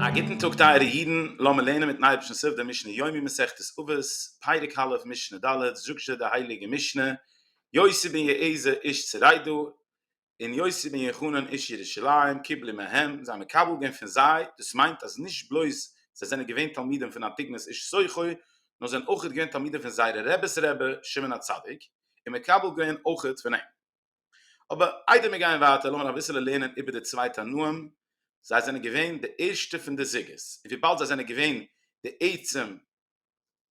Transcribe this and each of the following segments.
א גוטן טאג טייערע אידן, לאמיר לערנען מיטן אייבערשטן סוף דער משנה יומי מסכת אבות, פרק א', משנה ד', זאגט זשע די הייליגע משנה, יוסי בן יעזר איש צריידא, און יוסי בן יוחנן איש ירושלים, קיבלו מהם, זיי האבן מקבל געווען פון זיי, דאס מיינט אז נישט בלויז זיי זענען געווען תלמידים פון אנטיגנוס איש סוכו, נאר זיי זענען אויך געווען תלמידים פון זייערע רעבע'ס רבי, שמעון הצדיק. און מקבל געווען אויכעט פון אים. אבער איידער מיר גייען ווייטער לאמיר אביסעלע לערנען איבער די צוויי תנאים, זיי זענען געווען די ערשטע פון די זוגות, און וויבאלד זיי זענען געווען די עצם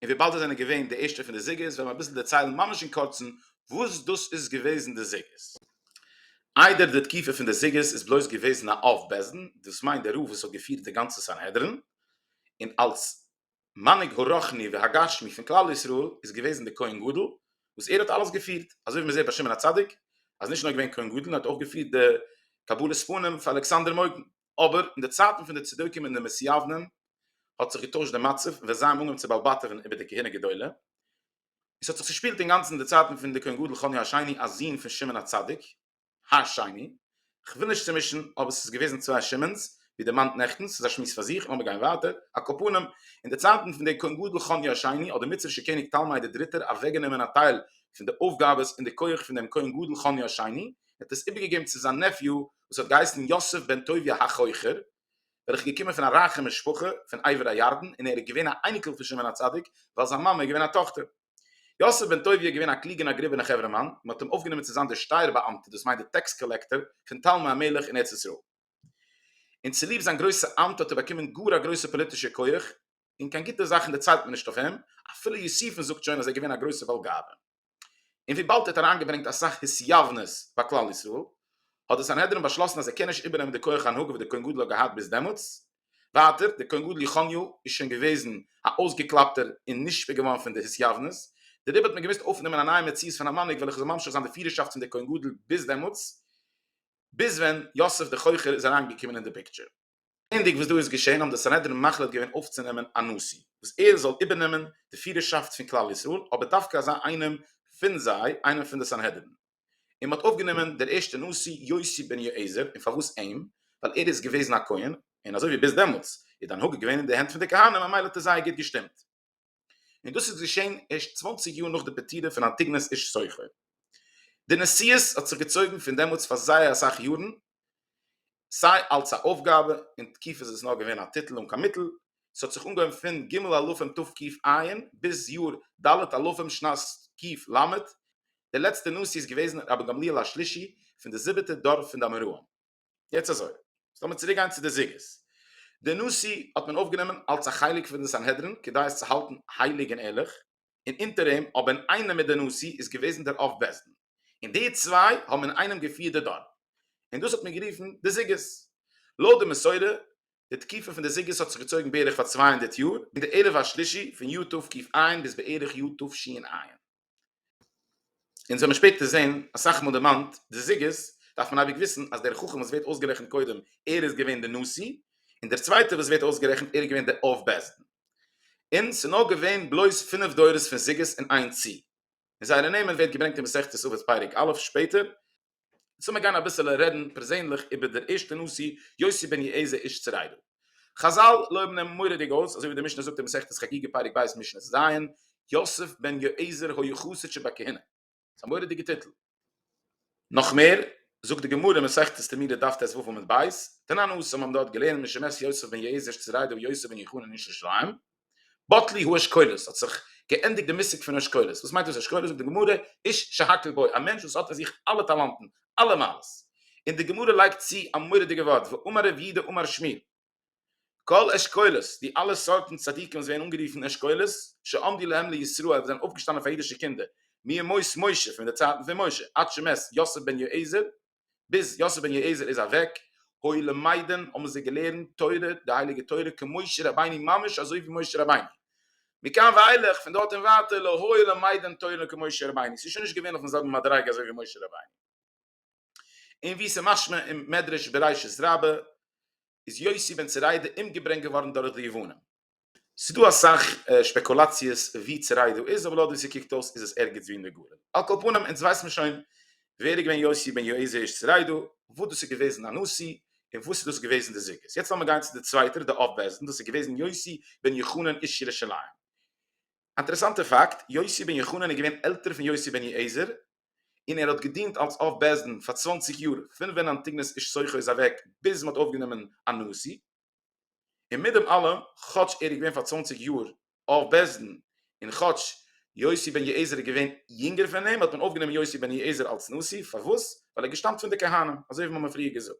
און וויבאלד זיי זענען געווען די ערשטע פון די זוגות וועל מען אביסל דערציילן ממש אין קורצן וואס דאס איז געוועזן די זוגות. איידער די תקופה פון די זוגות איז בלויז געוועזן א אב בית דין, דאס מיינט דער רב וואס האט געפירט די גאנצע סנהדרין, און אלס מנהיג הרוחני והגשמי פון כלל ישראל איז געוועזן די כהן גדול וואס ער האט אלעס געפירט, אזוי ווי מען זעט ביי שמעון הצדיק אז נישט נאר געווען כהן גדול נאר האט אויך געפירט די קבלת פנים פאר אלכסנדר מוקדון, אבער אין די צייטן פון די צדוקים און די מסיעוונים האט זיך געטוישט די מצב ווען זיי האבן אנגעהויבן צו באלבאטעווען איבער די כהונה גדולה, עס האט זיך צושפילט אינגאנצן אין די צייטן פון די כהן גדול חוני השני א זון פון שמעון הצדיק. השני, כ'וויל נישט צומישן, אבער ס'איז געוועזן צוויי שמעון'ס, ווי דערמאנט נעכטן, ס'איז א שמועס פאר זיך, לאמיר גיין ווייטער, הקופונים, אין די צייטן פון דער כהן גדול חוניו השני, האט דער מצרישער קעניג תלמי דער דריטער אוועקגענומען א טייל פון די אויפגאבעס און די כח פון דעם כהן גדול חוניו השני, ער האט עס איבערגעגעבן צו זיין נעפיו וואס האט געהייסן יוסף בן טוביה החוכר, וועלכער איז געקומען פון א רייכע משפחה פון עבר הירדן און ער איז געווען א אייניקל פון שמעון הצדיק, ווייל זיין מאמע איז געווען א טאכטער. יוסף בן טוביה איז געווען א קלוגע און א גראבע און א חברה מאן, מען האט אים אויפגענומען צו זיין דער שטייער באאמטער, דאס מיינט דער טעקס קאלעקטאר, פון תלמי המלך אין ארץ ישראל. און צוליב זיין גרויסע אמט האט ער באקומען גאר א גרויסע פאליטישע כח, און קיין גוטע זאכן דערציילט מען נישט אויף אים, אפילו יוסיפון זאגט שוין אז ער איז געווען א גרויסער בעל גאווה. און וויבאלד ער האט אריינגעברענגט אסאך התייוונות ביי כלל ישראל, האט די סנהדרין באשלאסן אז ער קען נישט איבערנעמען די כח הנהגה וואס דער כהן גדול האט געהאט ביז דעמאלטס, ווייטער, דער כהן גדול יחניהו איז שוין געוועזן א אויסגעקלאפטער און נשפע געווארן פון די התייוונות, דעריבער האט מען געמוזט אויפנעמען א נייע מציאות פון א מנהיג וועלכע זאל ממשיך זיין די פירערשאפט פון דער כהן גדול ביז דעמאלטס, ביז ווען יוסף דער חוכר איז אריין געקומען אין די פיקטשער. זעענדיג וואס דא איז געשען האבן די סנהדרין מחליט געווען אויפצונעמען א נשיא וואס ער זאל איבערנעמען די פירערשאפט פון כלל ישראל, אבער דווקא אזא איינעם פון זיי, איינעם פון די סנהדרין. און מ'האט אויפגענומען דער ערשטער נשיא יוסי בן יועזר, און פארוואס אים? ווייל ער איז געוועזן א כהן, און אזוי ווי ביז דעמאלטס איז די הנהגה געווען אין די הענט פון די כהנים ממילא האט ער זייער גוט געשטימט. און דאס איז געשען ערשט צוואנציג יאר נאך די פטירה פון אנטיגנוס איש סוכר. די נשיאות האט זיך געצויגן פון דעמאלטס פאר זייער אסאך יארן, סיי אלס א אויפגאבע, אין תקיף איז עס נאר געווען א טיטל אן קיין מיטל, ס'האט זיך אנגעהויבן פון ג' אלפים תקפ ע ביז יאר ד' אלפים שנת תקפ ל, דער לעצטער נשיא איז געוועזן רבי גמליאל השלישי פון די זיבעטע דור פון די אמוראים. יעצט אזוי, לאמיר צוריק גיין צו די זוגות, די נשיא האט מען אויפגענומען אלס א חלק פון די סנהדרין כדי עס צו האלטן הייליג און ערליך, און אונטער אים אבער אינאיינעם מיט די נשיא איז געוועזן דער אב בית דין און די צוויי האבן אינאיינעם געפירט די דור און דאס האט מען גערופן די זוגות. לויט די מסורה די תקופה פון די זוגות האט זיך געצויגן בערך פאר צוויי הונדערט יאר און די ערב השלישי פון יו ט תקפ א ביז בערך יו ט תשי ע. אונז וועמיר שפעטער זעהן אסאך מאל דערמאנט די זיגערס דארף מען אייביג וויסן אז דער חכם וואס ווערט אויסגערעכנט קודם ער איז געווען די נשיא און דער צווייטער וואס ווערט אויסגערעכנט ער איז געווען די אב בית דין און ס'איז נאר געווען בלויז פינף דורות פון זיגערס און איין צי און זייערע נעמען ווערט געברענגט אין מסכת אבות פרק א' שפעטער יעצט לאמיר גיין אביסעלע רעדן פערזענליך איבער דער ערשטע נשיא יוסי בן יעזר איש צריידא. חזל לויבן אים מורא'דיג אויס, אזוי ווי די משנה זאגט אין מסכת חגיגה פרק ב' משנה ז', יוסף בן יועזר היה חסיד שבכהונה. ס'איז א מורא'דיגע טיטל. נאך מער, זאגט די גמרא אין מסכת תמיד דף טז ו עמוד ב', תנא נ ס האבן דארט געלערנט משמש יוסף בן יעזר איש צריידא ויוסף בן יוחנן איש ירושלים, בטלי הוא אשכולות, האט זיך געענדיגט די מושג פון אשכולות, וואס מיינט דאס אשכולות, זאגט די גמרא, איש שהכל בו, א מענטש וואס האט אין זיך אלע טאלאנטן, אלע מעלות, און די גמרא לייגט צו א מורא'דיגע ווארט, ואמר רב יהודה אמר שמי, כל אשכולות, די אלע סארטן צדיקים וואס ווערן אנגערופן אשכולות, שעמדו להם לישראל, וואס זענען אויפגעשטאנען פאר אידישע קינדער, מימות משה, פון די צייטן פון משה, עד שמת יוסף בן יועזר, ביז יוסף בן יועזר איז אוועק, הוי למדן האבן זיי געלערנט תורה די הייליגע תורה כמשה רבינו ממש אזוי ווי משה רבינו, מכאן ואילך פון דארט און ווייטער לא היה למדן תורה כמשה רבינו, ס'איז שוין נישט געווען אויפן זעלבן מדריגה אזוי ווי משה רבינו. און ווי ס'איז משמע אין מדרש בראשית רבה איז יוסי בן צוריידה אומגעברענגט געווארן דורך די יוונים. ס'איז דא אסאך שפעקולאציעס ווי צו ריידא איז, אבער לויט ווי ס'קוקט אויס איז עס ערגעץ ווי אין די גליל. על כל פנים, אונז ווייס מיר שוין ווער איז געווען יוסי בן יהויזע איש צו ריידא, וואס דאס איז געוועזן א נשיא, און וואס איז דאס געוועזן די זוגות. יעצט לאמיר גיין צו די צווייטער, די אב בעש ד, דאס איז געוועזן יוסי בן יוחנן איש ירושלים. אינטערעסאנטער פאקט, יוסי בן יוחנן איז געווען עלטער פון יוסי בן יהויזער, און ער האט געדינט אלס אב בעש ד פאר צוואנציג יאר, פון ווען אנטיגנוס איש סוכו איז אוועק ביז מ'האט אויפגענומען א נשיא. און מיט דעם אלעם, כאטש ער איז געווען פאר צוואנציג יאר אב בית-דין, און כאטש יוסי בן יועזר איז געווען יונגער פון אים, האט מען אויפגענומען יוסי בן יועזר אלס נשיא, פארוואס? ווייל ער געשטאמט פון די כהנים, אזוי ווי מ'האמיר פריער געזאגט.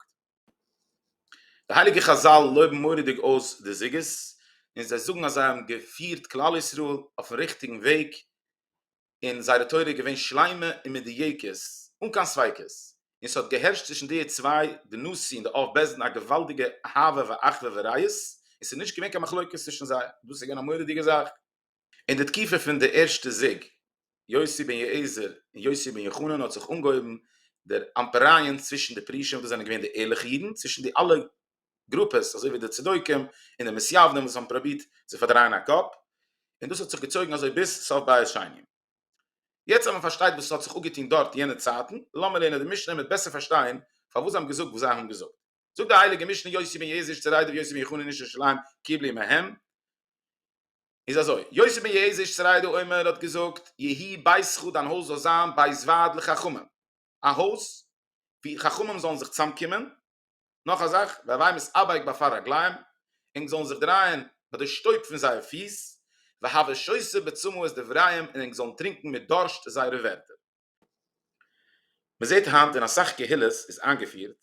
די הייליגע חזל לויבן מורא'דיג אויס די זוגות, און זיי זאגן אז זיי האבן געפירט כלל ישראל אויפן ריכטיגן וועג, און זייערע תורה איז געווען שלימה און מדויקת אן קיין ספיקות, און ס'האט געהערשט צווישן די צוויי די נשיא און די אב בית דין א געוואלדיגע אהבה ואחווה ורעות, און ס'איז נישט געווען קיין מחלוקת צווישן זיי, דאס איז געווען א מורא'דיגע זאך. אין די תקופה פון די ערשטע זיג, יוסי בן יועזר און יוסי בן יוחנן האט זיך אנגעהויבן דער אמפערייען צווישן די פרישים וואס זענען געווען די ערליכע אידן צווישן די אלע גרופעס אזוי ווי די צדוקים און די מסיעוונים וואס האבן פראבירט צו פארדרייען א קאפ און דאס האט זיך געצויגן אזוי ביז סוף בית שני. יעצט אז מען פארשטייט וואס האט זיך אפגעטון דארט יענע צייטן, לאמיר לערנען די משנה מיט בעסער פארשטיין פארוואס זיי האבן געזאגט וואס זיי האבן געזאגט. זאגט די הייליגע משנה יוסי בן יעזיש צו ר' דוב יוסי בן יחנן איש ירושלים קיבלי מהם איז אזוי, יוסי בן יעזיש צו ר' דוב אומר האט געזאגט, יהי ביתך דיין הויז זאל זיין בית ועד לחכמים, א הויז ווי חכמים זאלן זיך צוזאמקומען, נאך א זאך, והבהמות אבייק ביי פאר רגליים, ענק זאלן זיך דרייען ביי די שטויב פון זייער פיס, והווי שויסע בצמאות דבריהם און ענק זאלן טרינקן מיט דורשט זייערע ווערטער. מען זעט היינט אין אסאך קהילות איז איינגעפירט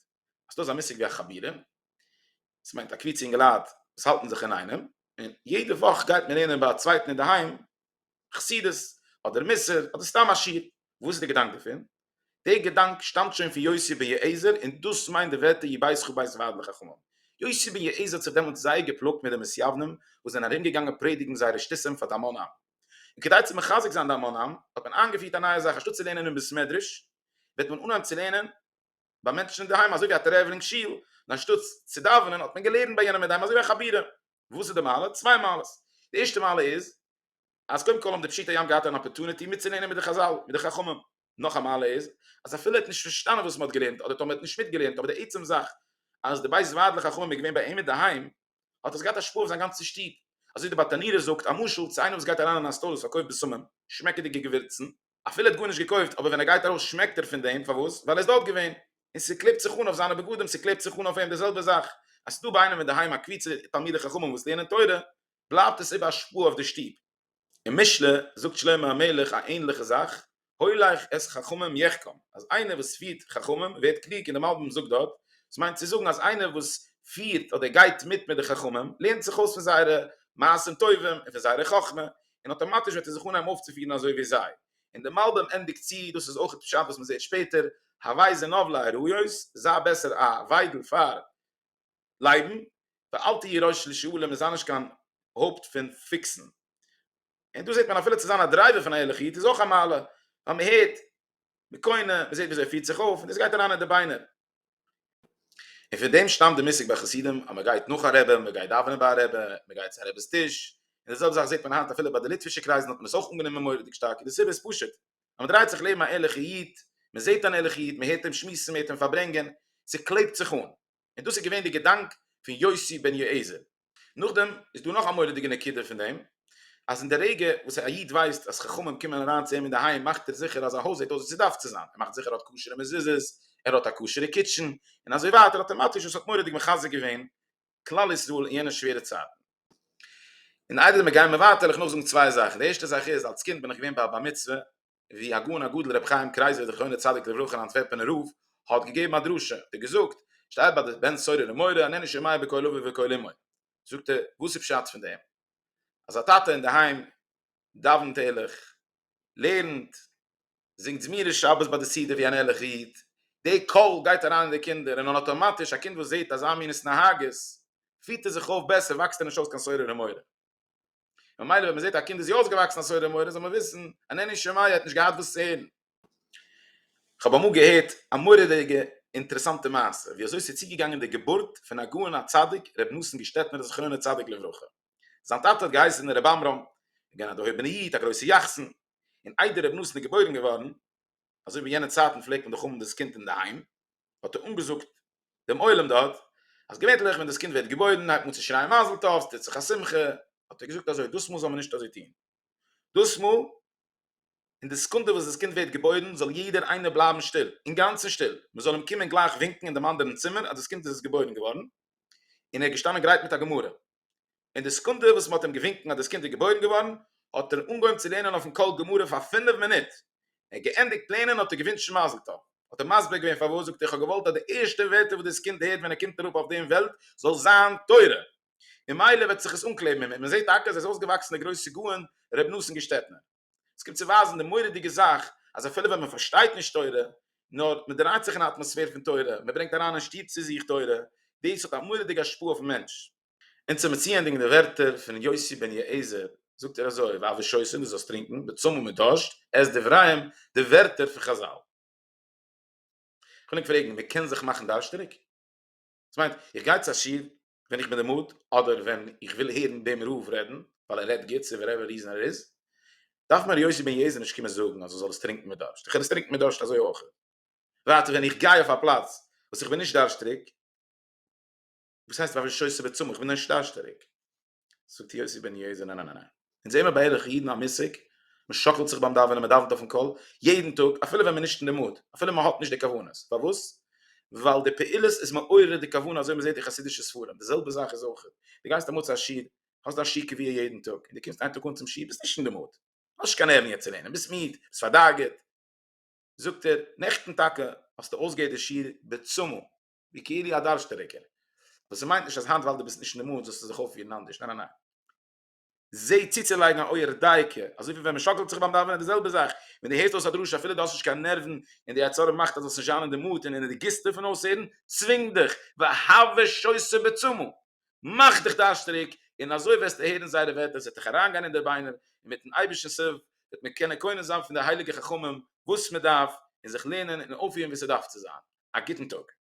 אז ס'דא אזא מושג ווי א חבירים, דאס מיינט א קבוצה אינגעלייט וואס האלטן זיך אינאיינעם, און יעדע וואך גייט מען לערנען ביי א צווייטן אינדערהיים חסידות אדער מוסר אדער סתם א שיר, וואס איז די געדאנק דערפון? די געדאנק שטאמט שוין פון יוסי בן יועזר און דאס מיינט די ווערטער יבייסכו בית ועד לחכמים. יוסי בן יועזר האט זיך דעמאלטס זייער געפלאגט מיט די מסייוונים וואס זענען ארומגעגאנגען פרעדיגן זייערע שטותים פאר די המון עם. און כדי צו מחזק זיין די המון עם האט מען איינגעפירט א נייע זאך אנשטאט צו לערנען אין בית מדרש וועט מען אנהייבן צו לערנען ביי מענטשן אינדערהיים אזוי ווי א טרעוולינג שול, און אנשטאט צו דאווענען האט מען געלערנט ביי יענעם אינדערהיים אזוי ווי א חבירה. וואס איז די מעלה? צוויי מעלות. די ערשטע מעלה איז אז קודם כל האבן די פשוטי עם געהאט אן אפערטוניטי מיטצולערנען מיט די חזל, מיט די חכמים. נאך א מעלה איז אז אפילו ער האט נישט פארשטאנען וואס מען האט געלערנט אדער טאמער ער האט נישט מיטגעלערנט אבער די עצם זאך אז די בית ועד לחכמים איז געווען ביי אים אינדערהיים האט דאס געהאט א השפעה אויף זיין גאנצע שטוב. אזוי ווי די בת ענירה זאגט א משל צו איינער וואס גייט אריין אין א סטאר וואס פארקויפט בשמים, שמעקעדיגע געווירצן, אפילו ער האט גארנישט געקויפט אבער ווען ער גייט ארויס שמעקט ער פון דעם פארוואס ווייל ער איז דארט געווען און ס'קלעבט זיך אן אויף זיינע בגדים ס'קלעבט זיך אן אויף אים די זעלבע זאך אז ס'איז דא ביי איינעם אינדערהיים א קבוצה תלמידי חכמים וואס לערנען תורה בלייבט עס איבער השפעה אויף די שטוב. אין משלי זאגט שלמה המלך א ענליכע זאך הולך את חכמים יחכם אז איינער וואס פירט חכמים ווערט קלוג און די מלבים זאגט דארט דאס מיינט צו זאגן אז איינער וואס פירט אדער גייט מיט מיט די חכמים לערנט זיך אויס פון זייערע מעשים טובים און פון זייערע חכמה און אטאמאטיש וועט ער זיך אנהייבן אויפצופירן אזוי ווי זיי, און די מלבים ענדיגט צו, דאס איז אויכעט פשט וואס מען זעט שפעטער, הווי זנב לאריות, זיי בעסער א וויידל פאר לייבן, ואל תהיה ראש לשעולים איז אנדערש קיין הויפט פון פיקסן. און דא זעט מען אפילו צו זיין א דרייווער פון א ערליכע איד איז אויך א מעלה, ווייל מען הערט, מען קונה, מען זעט ווי אזוי ער פירט זיך אויף, און דאס גייט אריין אין די ביינער. און פון דעם שטאמט די מושג ביי חסידים אז מען גייט נאך א רבי, מען גייט דאווענען ביי א רבי, מען גייט צו א רבי'ס טיש, און די זעלבע זאך זעט מען היינט אפילו ביי די ליטווישע קרייזן האט מען עס אויך אנגענומען מורא'דיג שטארק און די סיבה איז פשוט אז מען דרייט זיך לעבן א ערליכע איד, מען זעט אן ערליכע איד, מען הערט אים שמועסן, מען הערט אים פארברענגען, ס'קלעבט זיך אן. און דאס איז געווען די געדאנק פון יוסי בן יועזר. נאכדעם איז דא נאך א מורא'דיגע נקודה פון דעם, אז אין די רגע וואס א איד ווייסט אז חכמים קומען אריין צו אים אינדערהיים מאכט ער זיכער אז זיין הויז זעט אויס ווי ס'דארף צו זיין, ער מאכט זיכער ער האט כשר'ע מזוזות, ער האט א כשר'ע קיטשען, און אזוי ווייטער אטאמאטיש וואס האט מורא'דיג מחזק געווען כלל ישראל אין יענע שווערע צייטן. און איידער מיר גייען מער ווייטער וויל איך נאך זאגן צוויי זאכן, די ערשטע זאך איז, אלס קינד בין איך געווען ביי א בר מצוה, ווי הגאון הגדול רבי חיים קרייזער זכרונו צדיק לברכה אן אנטווערפענער רב האט געגעבן א דרשה און געזאגט שטייט ביי די בן סורר ומורה הנני שומע בקול אבי ובקול אמי זאגט ער וואס איז פשט פון דעם אז א טאטע אינדערהיים דאווענט ערליך לערנט זינגט זמירות שבת ביי די סעודה ווי אן ערליכער איד די קול גייט אריין אין די קינדער און אן אטאמאטיש א קינד וואס זעט אזא מין התנהגות פירט ער זיך אויף בעסער וואקסט ער נישט אויס קיין סורר ומורה. ממילא ווען מען זעט א קינד איז יא אויסגעוואקסן א סודות מוהר ן זאל מען וויסן אז עני שמיה ער האט נישט געהאט וואס צו הערן. כ'האב אמאל געהערט א מורא'דיגע אינטערעסאנטע מעשה ווי אזוי ס'איז צוגעגאנגען די געבורט פון הגאון הצדיק ר' נתן געשטעטנער זכרונו צדיק לברכה. זיין טאטע האט געהייסן ר' עמרם, געווען א דערהויבענע איד, א גרויסע יחסן, און איידער ר' נתן איז געבוירן געווארן, אזוי ווי יענע צייטן פלעגט מען דאך האבן דאס קינד אינדערהיים, האט ער אנגעזאגט דעם עולם דארט, אז געווענליך ווען דאס קינד ווערט געבוירן הייבט מען אן צו שרייען מזל טוב, ס'טוט זיך א שמחה, האט ער געזאגט אזוי, דאסמאל זאל מען נישט אזוי טון, דאסמאל, אין די סעקונדע וואס דאס קינד ווערט געבוירן, זאל יעדער איינער בלייבן שטיל, אינגאנצן שטיל, מען זאל אים קומען גלייך ווינקן אין דעם אנדערן צימער אז דאס קינד איז געבוירן געווארן, און ער איז געשטאנען גרייט מיט א גמרא. אין די סעקונדע וואס מען האט אים געווינקן אז דאס קינד איז געבוירן געווארן האט ער אנגעהויבן צו לערנען אויפן קול גמרא פאר פינף מינוט, ער האט געענדיגט לערנען האט ער געווינטשן מזל טוב, האט ער מסביר געווען פארוואס זאגט ער איך האב געוואלט אז די ערשטע ווערטער וואס דאס קינד הערט ווען ער קומט אראפ אויף דעם וועלט זאל זיין תורה ממילא וועט זיך עס אנקלעבן אין אים, און מען זעט טאקע אז ער איז אויסגעוואקסן דער גרויסע גאון ר' נתן געשטעטנער. עס קומט צו ווייזן די מורא'דיגע זאך אז אפילו ווען מען פארשטייט נישט תורה, נאר מען דרייט זיך אין א אטמאספער פון תורה, מען ברענגט אריין אין שטוב צו זיך תורה, דאס האט א מורא'דיגע השפעה אויפן מענטש. און צו מציענדיגן די ווערטער פון יוסי בן יעזר, זאגט ער אזוי, ואבי שותים, דו זאלסט טרינקען, בצום און מיט דארשט, עס דבריהם, די ווערטער פון חזל. כ'וויל ענק פרעגן, מען קען זיך מאכן דארשטיג? דאס מיינט, איך גיי צו א שיעור, ווען איך בין די מוד אדער ווען איך וויל הערן דעם רב רעדן ווייל ער רעדט גוט צו וואטעווער ריזען ער איז דארף מיר ר' יוסי בן יעזר נישט קומען זאגן אז איך זאל עס טרינקן מיט דארשט איך קען עס טרינקן מיט דארשט אזוי אויך ווייטער ווען איך גיי אויף א פלאץ וואס איך בין נישט דארשטריג וואס הייסט ווען איך בין שויסער בצמא איך בין נישט דארשטעריג זאגט יוסי בן יעזר ניין ניין ניין אונז זעמער בערך אידן א מושג, מען שאקלט זיך ביים דאווענען, מען דאווענט אויפן קול, יעדן טאג, אפילו ווען מען איז נישט אין די מוד, אפילו מען האט נישט די כוונות, פארוואס? ווייל די פעולות איז מעורר די כוונה אזוי מען זעט אין חסידישע ספרים, די זעלבע זאך איז אויך, די גייסט אמאל צו א שיעור, האסט דיין שיעור קביעה יעדן טאג, און די קומסט איין טאג אן צום שיעור, ביסט נישט אין די מוד, האסט נישט קיין נערוון יעצט צו לערנען, ביסט מיד, ביסט פארדאגה'ט, זאגט ער, נעכטן טאקע האסטו אויסגעהערט די שיעור בעצמו, ווי כאילו א דארשטעריגער, וואס ס'מיינט נישט אז היינט ווייל די ביסט נישט אין די מוד זאלסטו זיך אויפפירן אנדערש, ניין ניין ניין. זעה צוצולייגן א אויער דייקא אזוי ווי ווען מען שאקלט זיך ביים דאווענען די זעלבע זאך ווען דו הערסט אויס א דרשה אפילו דו האסט נישט קיין נערוון און די יצר הרע מאכט אז דו זאלסט נישט זיין אין די מוט און אין די גיסטע פון אויסהערן צווינג דיך והוה שויסע בעצמו מאך דיך דארשטריג און אזוי וועסטו הערן זייערע ווערטער עס וועט דיך אריינגיין אין די ביינער און מיטן אייבערשטנ'ס הילף וועט מען קענען קונה זיין פון די הייליגע חכמים וואס מען דארף און זיך לערנען און אויפפירן ווי ס'דארף צו זיין. א גוטן טאג.